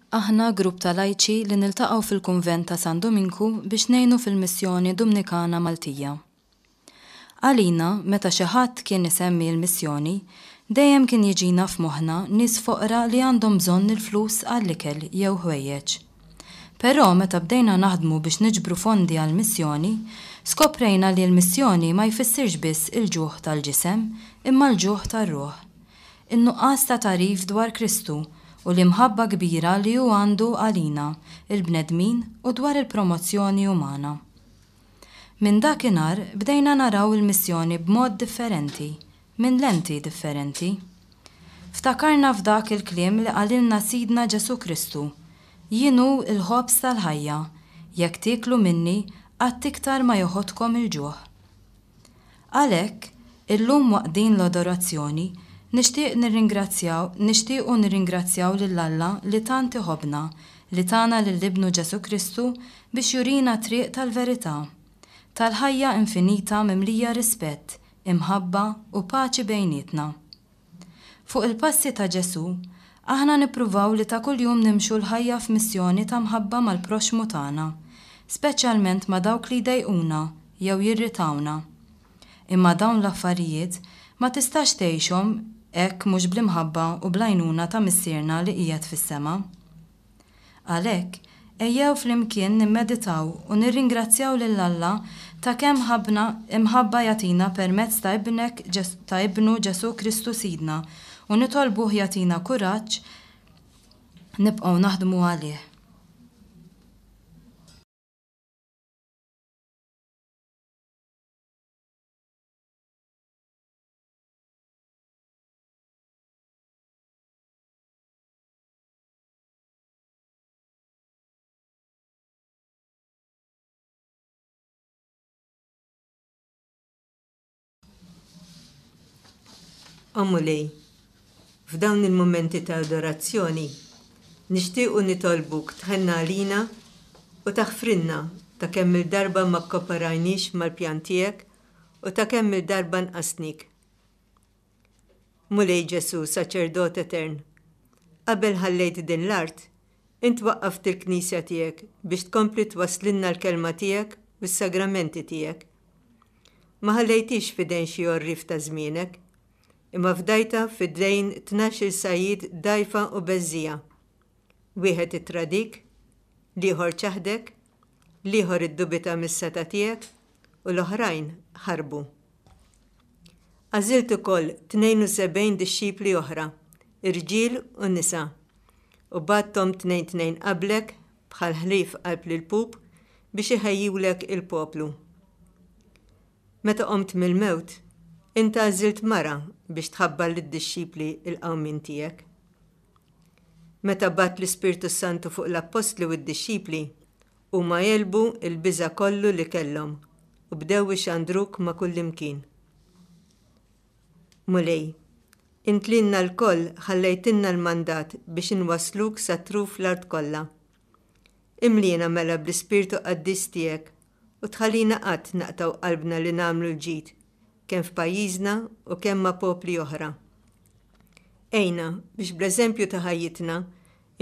Aħna grupp ta' lajċi li niltaqgħu fil-Kunvent ta' San Duminku biex ngħinu fil-Missjoni Dumnikana Maltija. Għalina, meta xi ħadd kien isemmi l-Missjoni, dejjem kien jiġina f'moħħna nies foqra li għandhom bżonn il-flus għall-ikel jew ħwejjeġ. Però meta bdejna naħdmu biex niġbru fondi għall-Missjoni, skoprejna li l-Missjoni ma jfissirx biss il-ġuħ tal-ġisem imma l-ġuħ tar-ruħ. In-nuqqas ta' tagħrif dwar Kristu u l-imħabba kbira li hu għandu għalina, il-bnedmin, u dwar il-promozzjoni umana. Minn dakinhar bdejna naraw il-missjoni b'mod differenti, minn lenti differenti. Ftakarna f'dak il-kliem li qalilna Sidna Ġesù Kristu, Jien hu l-ħobż tal-ħajja, jekk tieklu minni qatt iktar ma joħodkom il-ġuħ. Għalhekk, illum waqt din l-adorazzjoni, nixtieq nirringrazzjaw nixtiequ nirringrazzjaw lil Alla li tant iħobbna li tana lil Ibnu Ġesù Kristu biex jurina t-triq tal-verità, tal-ħajja infinita mimlija rispett, imħabba u paċi bejnietna. Fuq il-passi ta' Ġesù, aħna nippruvaw li ta' kuljum nimxu l-ħajja f'missjoni ta' mħabba mal-proxxmu tagħna, speċjalment ma' dawk li jdejquna jew jirritawna. Imma dawn l-affarijiet ma tistax tgħixhom hekk mhux bl-imħabba u bl-għajnuna ta' Missierna li qiegħed fis-sema. Għalhekk, ejjew flimkien nimmeditaw u nirringrazzjaw lil Alla ta' kemm ħabbna imħabba jagħtina permezz ta' Ibnek ta' Ibnu Ġesù Kristu Sidna u nitolbuh jagħtina kuraġġ nibqgħu naħdmu għalih. O Mulej, f'dawn il-mumenti ta' adorazzjoni, nixtiequ nitolbuk tħenn għalina u taħfrilna ta' kemm-il darba ma kkooperajniex mal-pjan tiegħek u ta' kemm-il darba nqasnik. Mulej Ġesù, Saċerdot Etern, qabel ħallejt din l-art, int waqqaft il-Knisja tiegħek biex tkompli twasslilna l-Kelma tiegħek u s-Sagramenti tiegħek. Ma ħallejthiex f'idejn xi għorrief ta' żmienek, imma fdajtha f'idejn tnax-il sajjied dgħajfa u beżżiegħa. Wieħed ittradik, l-ieħor ċaħdek, l-ieħor iddubita mis-setgħa tiegħek u l-oħrajn ħarbu. Għażilt ukoll 72 dixxipli oħra, irġiel u nisa, u bagħadthom tnejn tnejn qablek bħal ħlief qalb l-pub biex iħejjulek il-poplu. Meta qomt mill-mewt, int għażilt mara biex tħabbar lid-dixxipli l-qawmien tiegħek. Meta bagħat l-Ispirtu s-Santu fuq l-Appostli u d-dixxipli, huma għelbu l-biża' kollu li kellhom u bdew ixandruk ma' kullimkien. Mulej, int lilna lkoll ħallejtilna l-mandat biex inwassluk sa truf l-art kollha. Imliena mela bl-Ispirtu Qaddis tiegħek u tħallina qatt naqtgħu qalbna li nagħmlu l-ġid kemm f'pajjiżna u kemm ma' popli oħra. Għinna biex bl-eżempju ta' ħajjitna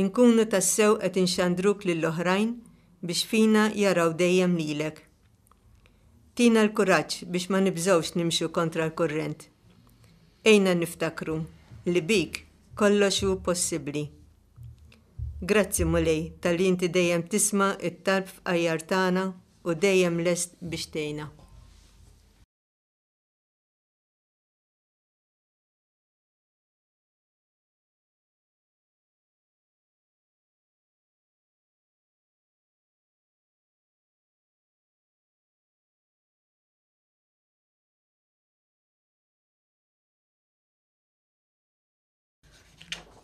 nkunu tassew qed inxandruk lill-oħrajn biex fina jaraw dejjem lilek. Tina l-kuraġġ biex ma nibżgħux nimxu kontra l-kurrent. Għinna niftakru li bik kollox hu possibbli. Grazzi, Mulej, talli inti dejjem tisma' t-talb fqajjar tagħna u dejjem lest biex tgħinna.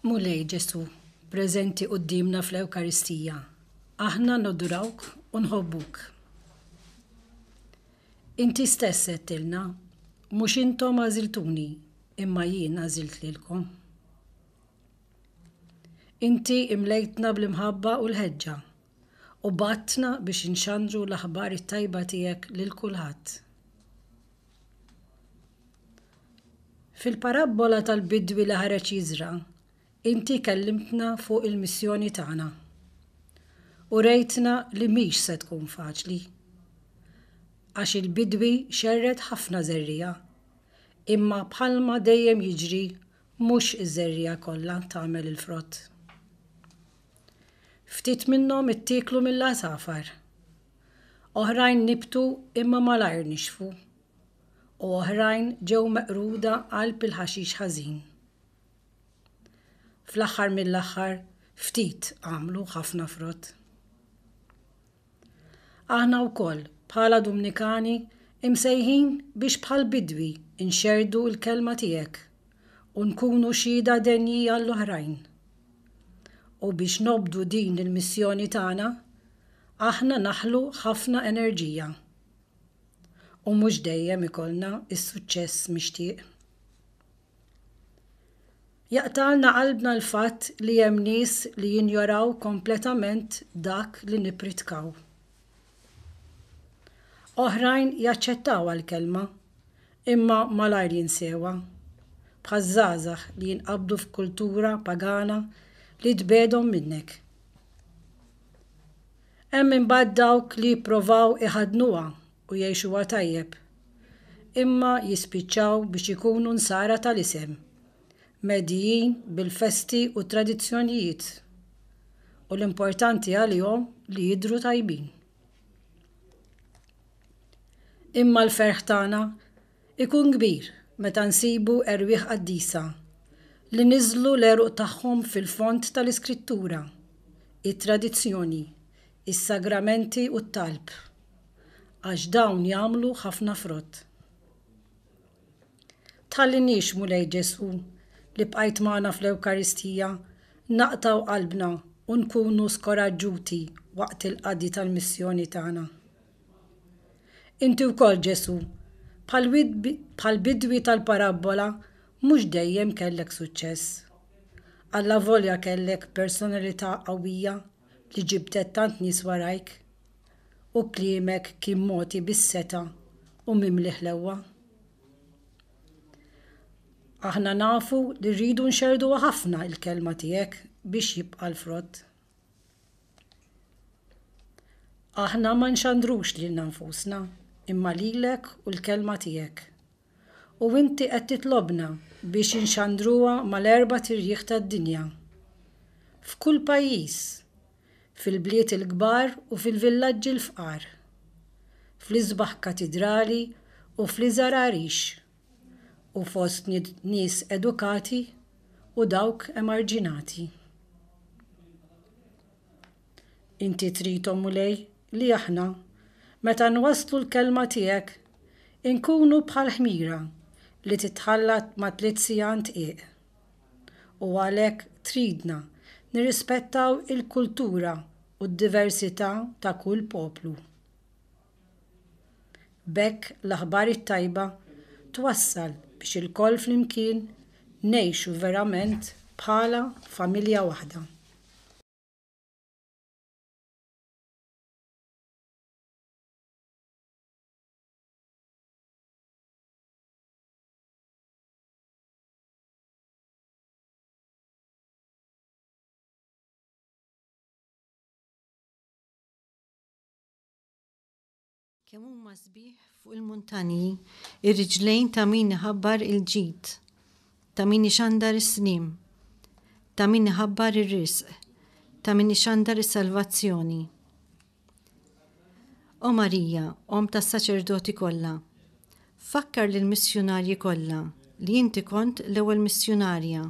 Mulej Ġesù, preżenti quddiemna fl-Ewkaristija, aħna nodurawk u nħobbuk. Inti stess għedtilna, Mhux intom għażiltuni, imma jien għażilt lilkom. Inti imlejtna bl-imħabba u l-ħeġġa u bgħattna biex inxandru l-aħbar it-tajba tiegħek lil kulħadd. Fil-parabbola tal-bidwi li ħareġ jiżra', inti kellimtna fuq il-missjoni tagħna. Urejtna li mhix se tkun faċli. Għax il-bidwi xerred ħafna żerriegħa, imma bħalma dejjem jiġri mhux iż-żerriegħa kollha tagħmel il-frott. Ftit minnhom ittieklu mill-għasafar. Oħrajn nibtu imma malajr nixfu. U oħrajn ġew meqruda qalb il-ħaxix ħażin. Fl-aħħar mill-aħħar ftit għamlu ħafna frott. Aħna wkoll bħala Dumnikani imsejħin biex bħall-bidwi nxerrdu l-kelma tiegħek u nkunu xhieda denji għall-oħrajn. U biex nobdu din il-missjoni tagħna, aħna naħlu ħafna enerġija u mhux dejjem ikollna s-suċċess mixtieq. Jaqtagħlna qalbna l-fatt li hemm nies li jinjoraw kompletament dak li nippritkaw. Oħrajn jaċċettawha l-kelma, imma malajr jinsewha, bħaż-żgħażagħ li jinqabdu f'kultura pagana li tbegħedhom minnek. Hemm imbagħad dawk li jipprovaw iħaddnuha u jgħixuha tajjeb, imma jispiċċaw biex ikunu nsara tal-isem, mgħeddijin bil-festi u t-tradizzjonijiet, u l-importanti għalihom li jidhru tajbin. Imma l-ferħ tagħna? Ikun kbir meta nsibu erwieħ qaddisa li niżżlu l-għeruq tagħhom fil-fond tal-Iskrittura, it-tradizzjoni, is-sagramenti u t-talb, għax dawn jagħmlu ħafna frott. Tħalliniex, Mulej Ġesù, li bqajt magħna fl-Ewkaristija, naqtgħu qalbna u nkunu skoraġġuti waqt il-qadi tal-missjoni tagħna. Inti wkoll, Ġesù, bħall-bidwi tal-parabbola, mhux dejjem kellek suċċess. Allavolja kellek personalità qawwija li ġibdet tant nies warajk, u kliemek kien mogħti bis-setgħa u mimli ħlewwa. Aħna nafu li rridu nxerrduha ħafna l-kelma tiegħek biex jibqa' l-frott. Aħna ma nxandrux lilna nfusna, imma lilek u l-Kelma tiegħek. U inti qed titlobna biex inxandruha mal-erbat irjieħ tad-dinja. F'kull pajjiż, fil-bliet il-kbar u fil-villaġġi l-fqar, fl-isbaħ katidrali u fl-iżgħar għarix, u fost nies edukati u dawk emarġinati. Inti trid, O Mulej, li aħna, meta nwasslu l-kelma tiegħek, inkunu bħal ħmira li titħallat ma tlidt siegħa ndqiq. U għalhekk tridna nirrispettaw il-kultura u d-diversità ta' kull poplu. B'hekk l-aħbar it-tajba twassal biex ilkoll flimkien ngħixu verament bħala familja waħda. Kemm huma sbieħ fuq il-muntanji r-riġlejn ta' min iħabbar il-ġid, ta' min ixandar is-sliem, ta' min iħabbar ir-risq, ta' min ixandar is-salvazzjoni. O Marija, om tas-saċerdoti kollha, fakkar lil missjunarji kollha li inti kont l-ewwel missjunarja.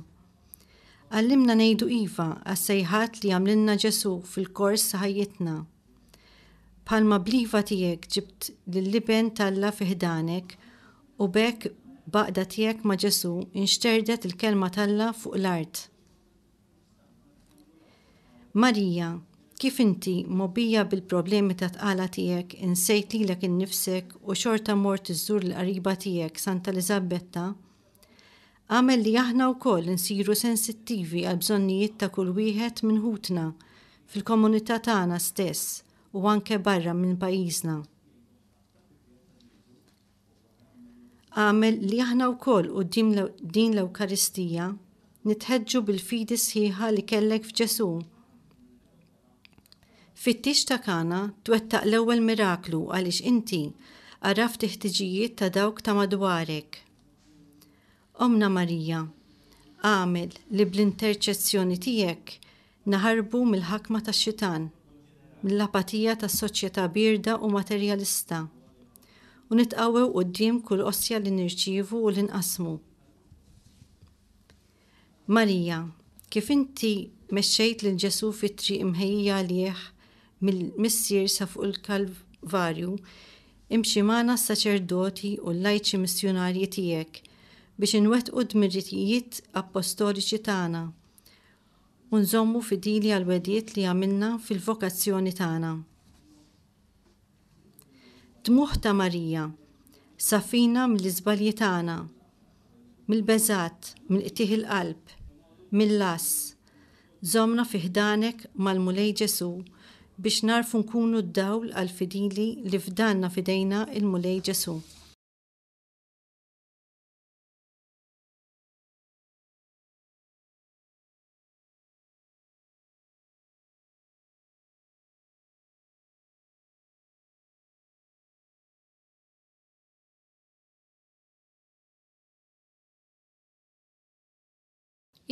Għallimna ngħidu iva għas-sejħat li għamlilna Ġesù fil-kors ħajjitna. Bħalma bl-iva tiegħek ġibt lill-Iben t'Alla fi ħdanek u b'hekk b'għaqda tiegħek ma' Ġesù nxterdet il-Kelma t'Alla fuq l-art. Marija, kif inti, mgħobbija bil-problemi tat-tqala tiegħek, insejt lilek innifsek u xorta mort iżżur lill-qariba tiegħek Santa Eliżabetta, Agħmel li aħna wkoll insiru sensittivi għall-bżonnijiet ta' kull wieħed minn ħutna fil-komunità tagħna stess u anke barra minn pajjiżna. Agħmel li aħna wkoll quddiem din l-Ewkaristija nitħeġġu bil-fidi sħiħa li kellek f'Ġesù. Fittix ta' Kana twettaq l-ewwel miraklu għaliex inti għaraft il-ħtiġijiet ta' dawk ta' madwarek. Ommna Marija, agħmel li bl-interċezzjoni tiegħek naħarbu mill-ħakma tax-xitan, mill-apatija ta' soċjetà bierda u materjalista, u nitqawwew quddiem kull ostja li nirċievu u li nqassmu. Marija, kif inti mexxejt lil Ġesù fit-triq imħejjija għalih mill-Missier sa fuq il-Kalvarju, imxi magħna s-saċerdoti u l-lajċi missjunarji tiegħek biex inwettqu d-dmirijiet appostoliċi tagħna u nżommu fidili għall-wegħdiet li għamilna fil-vokazzjoni tagħna. Dmugħ ta' Marija, safina mill-iżbalji tagħna, mill-beżgħat, mill-qtigħ il-qalb, mill-għażż. Żommna fi ħdanek mal-Mulej Ġesù biex nagħrfu nkunu d-dawl għall-fidili li fdanna f'idejna l-Mulej Ġesù.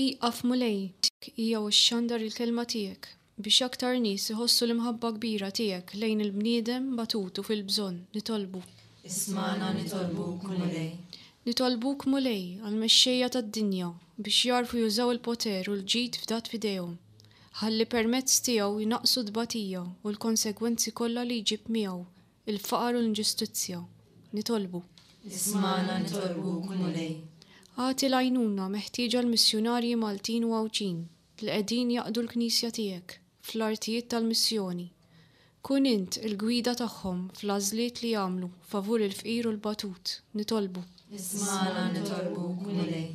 Ieqaf Mulej, dik hija u xxandar il-kelma tiegħek biex aktar nies iħossu l-imħabba kbira tiegħek lejn il-bniedem batut u fil-bżonn, nitolbu. Ismagħna nitolbuk Mulej. Nitolbuk Mulej għall-mexxejja tad-dinja biex jagħrfu jużaw il-poter u l-ġid fdat f'idejhom. ħalli permezz tiegħu jnaqqsu t-tbatija u l-konsegwenzi kollha li jġib miegħu, il-faqar u l-inġustizzja. Nitolbu. Ismagħna nitolbuk, Mulej. Agħti l-għajnuna meħtieġa l-missjunarji Maltin u Għawdxin li qegħdin jaqdu l-Knisja tiegħek fl-artijiet tal-missjoni. Kun int il-gwida tagħhom fl-għażliet li jagħmlu favur il-fqir u l-batut, nitolbu. Ismagħna nitolbuk, Mulej.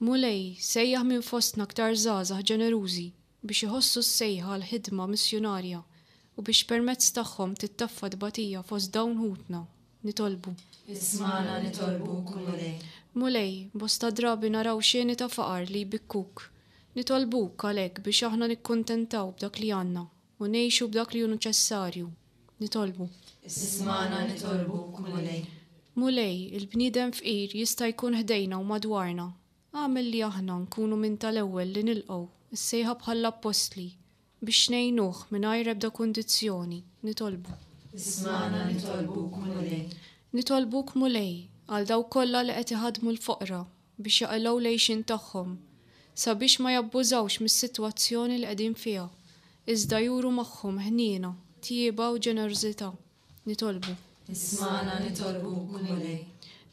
Mulej, sejjaħ minn fostna aktar żgħażagħ ġenerużi biex iħossu s-sejħa għall-ħidma missjunarja u biex permezz tagħhom tittaffa t-tbatija fost dawn ħutna, nitolbu. Ismagħna nitolbuk, Mulej. Mulej, bosta drabi naraw xeni ta' faqar li jbikkuk. Nitolbuk, għalhekk, biex aħna nikkuntentaw b'dak li għandna, U ngħixu b'dak li hu neċessarju. Nitolbu. Ismagħna nitolbuk, Mulej. Mulej, il-bniedem fqir jista' jkun ħdejna u madwarna. Agħmel li aħna nkunu minn tal-ewwel li nilqgħu s-sejħa bħall-appostli biex ngħinuh mingħajr ebda kundizzjoni. Nitolbu. Ismagħna nitolbuk, Mulej. Nitolbuk, Mulej, għal dawk kollha li qed iħaddmu l-foqra biex jaqilgħu l-għixien tagħhom, sabiex ma jabbużawx mis-sitwazzjoni li qegħdin fiha, iżda juru magħhom ħniena, tjieba u ġenerożità. Nitolbu. Ismagħna nitolbuk, Mulej.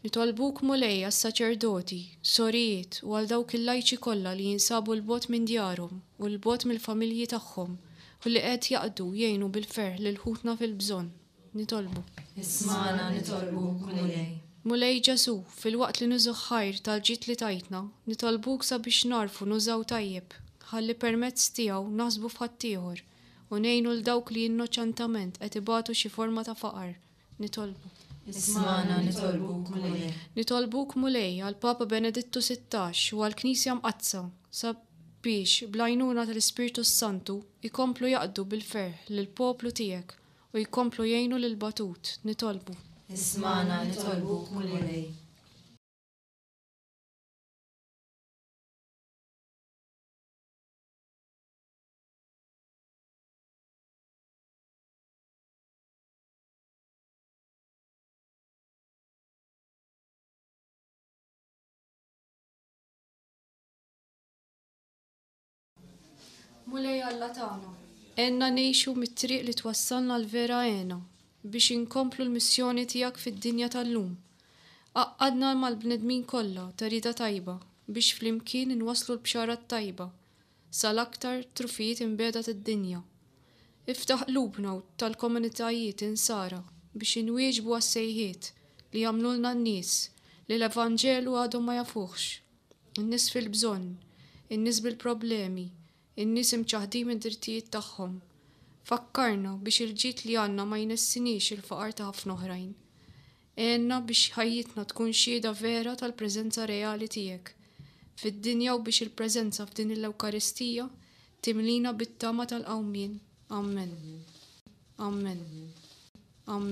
Nitolbuk, Mulej, għas-saċerdoti, sorijiet u għal dawk il-lajċi kollha li jinsabu 'l bogħod minn djarhom u 'l bogħod mill-familji tagħhom u li qed jaqdu jgħinu bil-ferħ lil ħutna fil-bżonn. Nitolbu. Ismagħna nitolbu, Mulej. Mulej Ġesù, filwaqt li nużu ħ-ħajr tal-ġid li tajtna, nitolbuk sabiex nagħrfu nużaw tajjeb, ħalli permezz tiegħu naħsbu f'ħaddieħor u ngħinu 'l dawk li innoċentament qed ibatu xi forma ta' faqar. Nitolbu. Ismagħna nitolbu, Mulej. Nitolbuk, Mulej, għall-Papa Benedittu Sittax u għall-Knisja Mqaddsa, sabiex, bl-għajnuna tal-Ispirtu s-Santu, ikomplu jaqdu bil-ferħ lill-poplu tiegħek U jkomplu jgħinu lill-batut. Nitolbu. Ismagħna, nitolbuk, Mulej. Mulej Alla tagħna. Għenna ngħixu mit-triq li twassalna għall-vera għena biex inkomplu l-missjoni tiegħek fid-dinja tal-lum. Għaqqadna mal-bnedmin kollha ta' rieda tajba biex flimkien inwasslu l-bxara t-tajba sal-aktar trufijiet imbiegħda tad-dinja. Iftaħ qlubna u tal-komunitajiet Insara biex inwieġbu għas-sejħiet li jagħmlulna n-nies li l-Evanġelu għadhom ma jafuhx. in-nies fil-bżonn, in-nies bil-problemi, in-nies imċaħħdin mid-drittijiet tagħhom. Fakkarna biex il-ġid li għandna ma jnessiniex il-faqar ta' ħafna oħrajn. Għenna biex ħajjitna tkun xhieda vera tal-preżenza reali tiegħek fid-dinja u biex il-preżenza f'din il-Ewkaristija timlina bit-tama tal-qawmien. Amen. Amen. Amen.